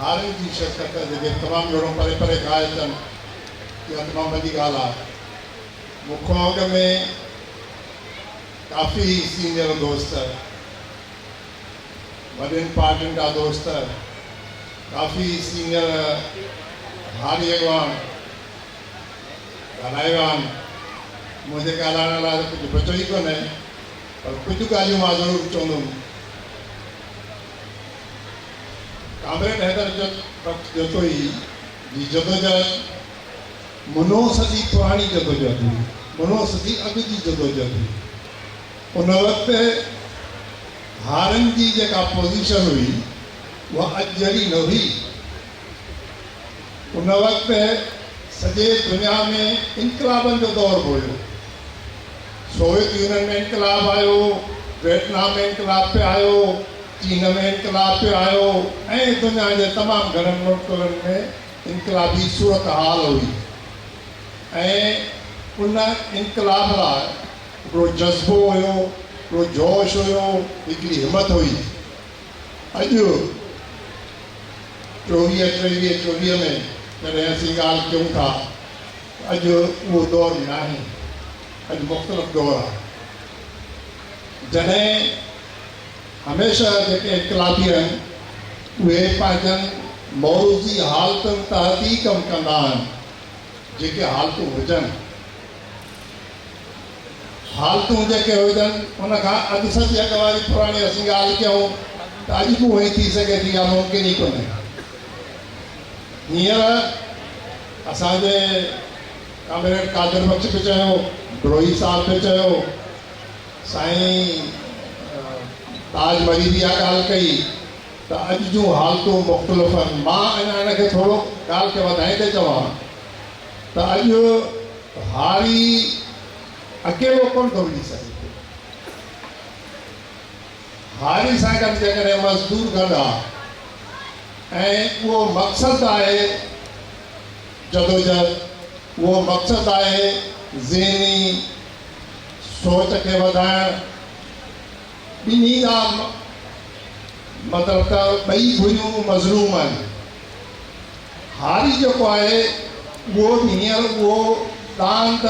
هارين جي شرڪت جيڪي تمام گهڻو پري پري کان آيا اچن اها تمام وڏي ڳالهه آهي مون کان اڳ ۾ ڪافي سينيئر دوست وڏين پارٽين جا دوست ڪافي سينيئر هاري اڳواڻ ڳالهائي ويا آهن منهنجي ڳالهائڻ لاء ته ڪجهه بچو ئي ڪونهي پر ڪجهه ڳالهيون مان ضرور چوندم ڪامريڊ حيدر جت بخش جتوئي جي جدوجهد منو صدي پراڻي جدوجهد هئي، منو صدي اڳ جي جدوجهد هئي. ان وقت هارن جي جيڪا پوزيشن هئي اها اڄ جهڙي نه هئي، ان وقت سڄي دنيا ۾ انقلابن جو دور به هيو. سوويت يونين ۾ انقلاب آيو، ويٽنام ۾ انقلاب پي آيو، چين ۾ انقلاب پي آيو ۽ دنيا جي تمام گهڻن ملڪن ۾ انقلابي صورتحال هئي ۽ ان انقلاب لاء هڪڙو جذبو هيو، هڪڙو جوش هيو، هڪڙي همت هئي. اڄ ٽوويهه ٽيويهه چوڏهينء ۾ جڏهن اسين ڳالهه ڪيون ٿا ته اڄ اهو دور ناهي، اڄ مختلف دور آهي. جڏهن هميشه جيڪي انقلابي آهن اهي پنهنجن موروثي حالتن تحت ئي ڪم ڪندا آهن، جيڪي حالتون هجن. حالتون جيڪي هجن ان کان اڌ صدي اڳ واري پراڻي اسين ڳالهه ڪيون ته اڄ به اهو ئي ٿي سگهي ٿي يا ممڪن ئي ڪونهي. هينئر اسان جي ڪامريڊ قادر بخش به چيو، بروهي صاحب به چيو، سائين تاج مري به اها ڳالهه ڪئي ته اڄ جون حالتون مختلف آهن. مان اڃا ان کي ٿورو ڳالهه کي وڌائيندي چوان ته اڄ هاري اڪيلو ڪونه ٿو وڙهي سگهي پيو. هاري سان گڏ جيڪڏهن مزدور گڏ آ ۽ اهو مقصد آهي جدوجهد، اهو مقصد آهي ذهني سوچ کي وڌائڻ، ٻنهي جا مطلب ته ٻئي ڌريون مظلوم آهن. هاري جيڪو آهي اهو به هينئر اهو ڏاند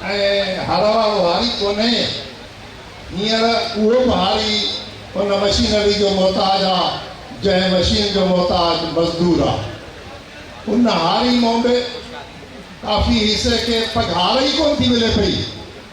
۽ هر وارو هاري ڪونهي. هينئر اهو به هاري ان مشينري جو محتاج آ جنهن مشين جو محتاج مزدور آ. ان هاري مون به ڪافي حصي کي پگهار ئي ڪونه ٿي ملي پئي.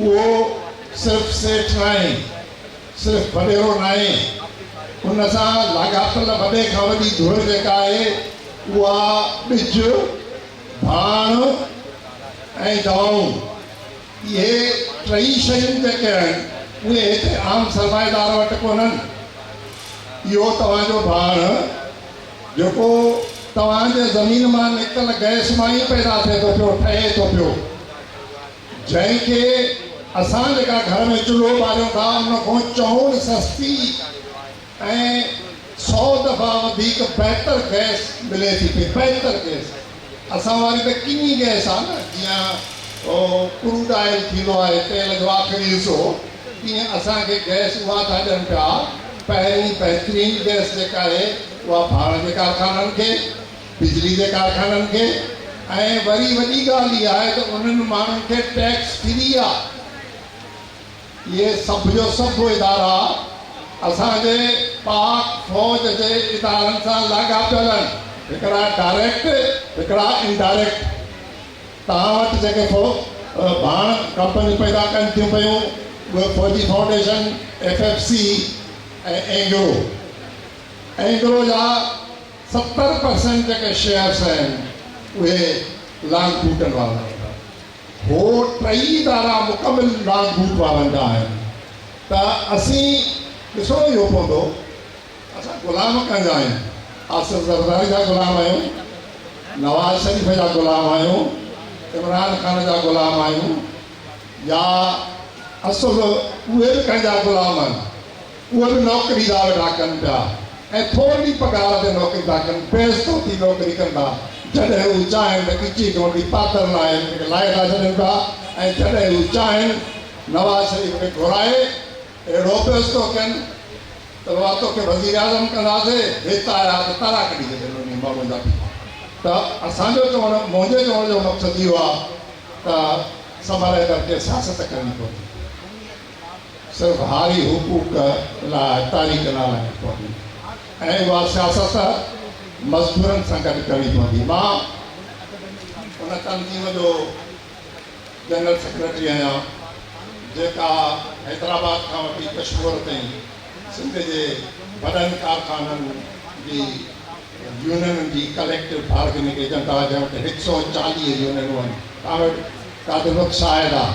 اهو صرف سيٺ ناهي، صرف وڏيرو ناهي، ان سان لاڳاپيل وڏي کان وڏي ڌر جيڪا آهي، اها ٻج، ڀاڻ ۽ دوائون، اهي ٽئي شيون جيڪي آهن، اهي هتي عام سرمائيدار وٽ ڪونهن. اهو توهان جو ڀاڻ. جيڪو توهان جي زمين مان نڪتل گئس مان ئي پيدا ٿئي ٿو پيو، ٺهي ٿو پيو، جنهن کي اسان جيڪا گهر ۾ چلهو ٻاريون ٿا، ان کان چئون سستي ۽ سئو دفعا وڌيڪ بهتر گئس ملي ٿي پئي، بهتر گئس. اسان واري ته ڪني گئس آ نه جيئن ڪروڊ آئل ٿيندو آهي تيل جو آخري حصو تيئن اسان کي گئس اها ٿا ڏين پيا پهرين بهترين گئس جيڪا آهي اها ڀاڻ جي ڪارخانن کي بجلي جي ڪارخانن کي ۽ وري وڏي ڳالهه اها آهي ته انهن ماڻهن کي ٽيڪس فري آ. اهي سڀ جو سڀ ادارا اسان جي پاڪ فوج جي ادارن سان لاڳاپيل آهن، هڪڙا ڊائريڪٽ هڪڙا انڊائريڪٽ. توهان وٽ جيڪي ڦو ڀاڻ ڪمپنيون پيدا ڪن ٿيون پيون اهي Fauji Foundation, F F C ۽ Engro. Engro جا ستر پرسينٽ جيڪي شيئرس آهن اهي لانگ بوٽن وارن وٽ آهن. هو ٽئي ادارا مڪمل راج ڀوت وارن جا آهن ته اسين ڏسڻو اهو پوندو ته اسان غلام ڪنهن جا آهيون؟ آصف زرداري جا غلام آهيون؟ نواز شريف جا غلام آهيون؟ عمران خان جا غلام آهيون؟ يا اصل اهي به ڪنهن جا غلام آهن؟ اهي به نوڪري لا ويٺا ڪن پيا ۽ ٿورڙي پگهار تي نوڪري ٿا ڪن، بيعزتو ٿي نوڪري ڪن ٿا، جڏهن هو چاهين ته ڳچي گهونٽي پاتل لاهي هن کي لاهي ٿا ڇڏين پيا ۽ جڏهن هو چاهين نواز شريف کي گهرائي اهڙو بيعزتو ڪين ته بابا توکي وزيراعظم ڪنداسي هت آيا ته تارا ڪڍي ڇڏين انهي ماڻهو جا به ته اسان جو چوڻ منهنجي چوڻ جو مقصد اهو آهي ته سمرائي ڪرڪي سياست ڪرڻي پوندي. صرف هاري حقوق لاء تاريخ لاء لکڻي پوندي ۽ اها سياست مزدورن سان گڏ ڪرڻي پوندي مان ان تنظيم جو جنرل سيڪريٽري آهيان جيڪا حيدرآباد کان وٺي ڪشمور تائين سنڌ جي وڏن ڪارخانن جي يونينن جي ڪليڪٽو بارگننگ ايجنٽ آهي جنهن وٽ هڪ سئو چاليهه يونينون آهن تنهن وٽ ڪا به متشاهد آهي.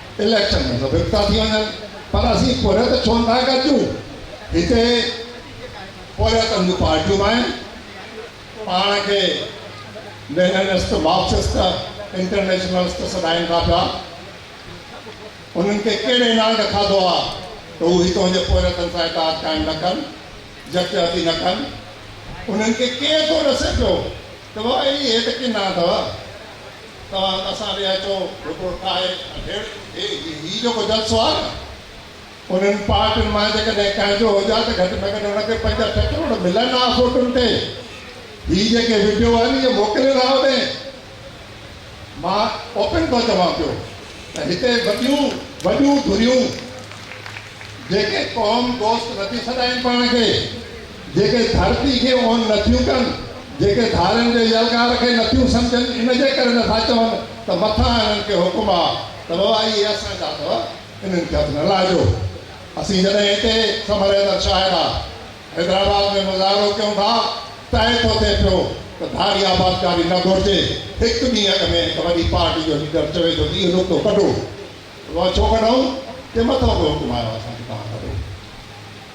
اليڪشن ۾ سڀ اڪتا ٿي وڃن پر اسين پورهيت ته ڇو نٿا گڏجون؟ هتي پورهيتن جون پارٽيون به آهن، پاڻ کي ليننسٽ، مارڪسسٽ، انٽرنيشنلسٽ سڏائين ٿا پيا، انهن کي ڪير اينانڊ کاڌو آهي ته هو هتون جي پورهيتن سان اتحاد قائم نه ڪن، يڪجهتي نه ڪن، انهن کي ڪير ٿو ڏسي پيو؟ توهان اهڙي هيت ڪين نه اٿو توهان اسان ڏي اچو رپورٽ ٺاهي اڍيڙ هي هي جيڪو جلسو آهي نه انهن پارٽين مان جيڪڏهن ڪنهن جو هجي ها ته گهٽ ۾ گهٽ ان کي پنج اٺ ڪروڙ ملن ها فوٽن تي هي جيڪي وڊيو آهن اهي موڪلين ها اوڏي مان اوپن ٿو چوان پيو ته هتي وڏيون وڏيون ڌريون جيڪي قوم دوست نٿي سڏائين پاڻ کي. جيڪي ڌرتي کي اونهن نٿيون ڪن، جيڪي ڌارين جي يلغار کي نٿيون سمجهن، ان جي ڪري نٿا چون ته مٿان هنن کي حڪم آ ته بابا اهي اسان جا اٿو، انهن کي هٿ نه لائجو. اسين جڏهن هتي سمهري در شاهد آ حيدرآباد ۾ مظاهرو ڪيون ٿا، طئي ٿو ٿئي پيو ته ڌاري آبادگاري نه گهرجي. هڪ ڏينهن اڳ ۾ هڪ وڏي پارٽي جو ليڊر چوي ٿو ته اهو نقطو ڪڍو. بابا ڇو ڪڍون؟ چي مٿان ڪو حڪم آيو آ اسان کي توهان ڪڍو.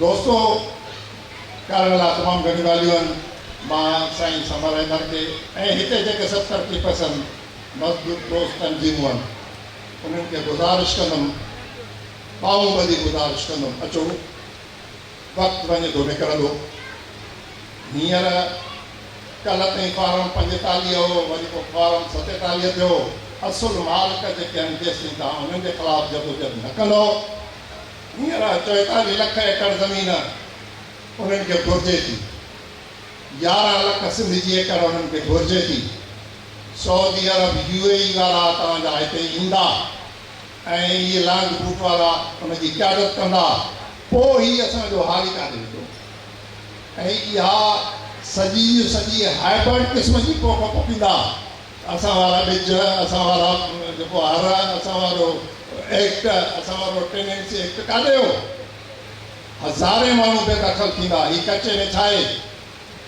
دوستو ڪارڻ لا تمام گهڻيون ڳالهيون آهن مان سائين سمر احمد کي ۽ هتي جيڪي سڀ ترقي پسند مزدور دوست تنظيمون آهن انهن کي گذارش ڪندم ٻانهون ٻڌي گذارش ڪندم اچو وقت وڃي ٿو نڪرندو هينئر ڪلهه تائين فارم پنجيتاليهه هو وري پوء فارم ستيتاليهه ٿيو اصل مالڪ جيڪي آهن جيستائين توهان انهن جي خلاف جدوجهد نه ڪندو هينئر چويتاليهه لک ايڪڙ زمين انهن کي گهرجي ٿي. يارهن لک سنڌ جي ايڪڙ انهن کي گهرجي ٿي. سعودي عرب، يو اي اي وارا توهان جا هتي ايندا ۽ اهي لانگ بوٽ وارا ان جي قيادت ڪندا، پوء هي اسان جو هاري ڪاڏي ويندو؟ ۽ اها سڄي جي سڄي هائبرڊ قسم جي پوک پوکيندا. اسان وارا ٻج، اسان وارا جيڪو هر، اسان وارو ايڪٽ، اسان وارو ٽينينسي ايڪٽ ڪاڏي ويو؟ هزارين ماڻهو بي دخل ٿيندا، هي ڪچي ۾ ڇا اهي؟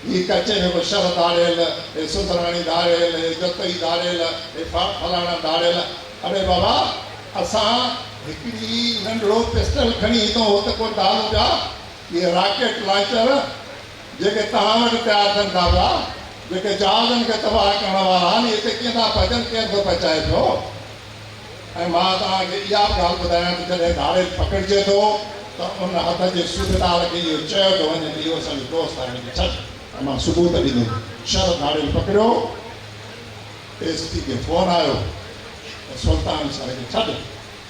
هي ڪچي ۾ ڪو شھر ڌاڙيل، هي سڌراڻي ڌاڙيل، هي جتوئي ڌاڙيل، هي فلاڻا ڌاڙيل. اڙي بابا اسان هڪڙي ننڍڙو پسٽل کڻي هتون هت ڪو ڌاڙون پيا، اهي راڪيٽ لانچر، جيڪي توهان وٽ پيا اچن ٿا پيا، جيڪي جهازن کي تباهه ڪرڻ وارا آهن، اهي هتي ڪيئن ٿا پهچن، ڪير ٿو پهچائي پيو؟ ۽ مان توهان کي اها به ڳالهه ٻڌايان ته جڏهن ڌاڙيل پڪڙجي ٿو ته ان هٿ جي سوڀيدار کي اهو چيو ٿو وڃي ته اهو اسان جو دوست آهي، هن کي ڇڏ. ۽ مان ثبوت ڏنو. شهر ڌاڙيل پڪڙيو. ايس پي کي فون آيو ته سلطان شهر کي ڇڏ.